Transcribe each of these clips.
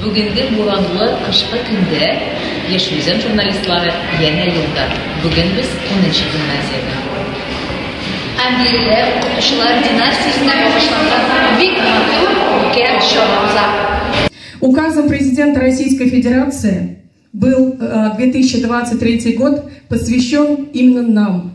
Бүгенге буранлы кышкы көндә Яшь Үзән журналистлары янә юлда. Бүген без унынчы гимназиядә. Һәм биредә укытучылар династиясенә багышланган бик матур үткән чара уза. Указом Президента Российской Федерации был 2023 год посвящен именно нам,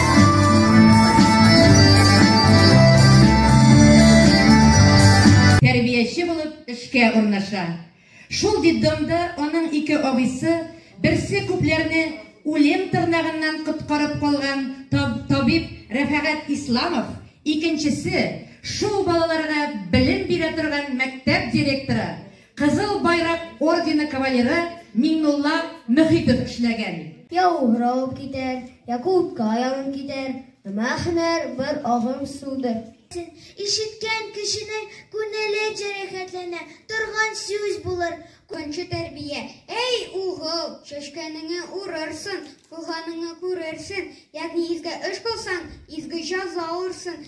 Тәрбияче булып эшкә урнаша. Шул детдомда аның ике абыйсы берсе күпләрне үлем тырнагыннан коткарып калган таб табиб Рәфәгать Исламов, икенчесе шул балаларга белем бирә торган мәктәп директоры Кызыл Байрак ордены кавалеры Миңнулла Мөхитов эшләгән. Я уграу китәр, я кулка янып китәр, Өмә һөнәр бер агым судыр. Ишеткән кешенең күнеле җәрәхәтләнә торган сүз булыр. Көнче тәрбия, әй угыл, чәчкәнеңе урырсын, кылганыңы күрерсен, ягъни изге эш кылсаң, изге җаза алырсын.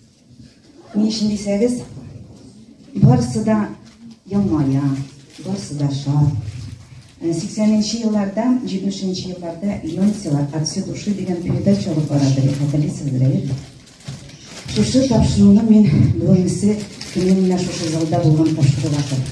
Ни өчен дисәгез, барысы да елмая, барысы да шат. 80-нче э, елларда, 70-нче елларда Йонсела от всей души дигән передача алып барады, хәтерлисезме, әйе? Шушы тапшыруны мин бүгенге көнне менә шушы залда булган тапшырып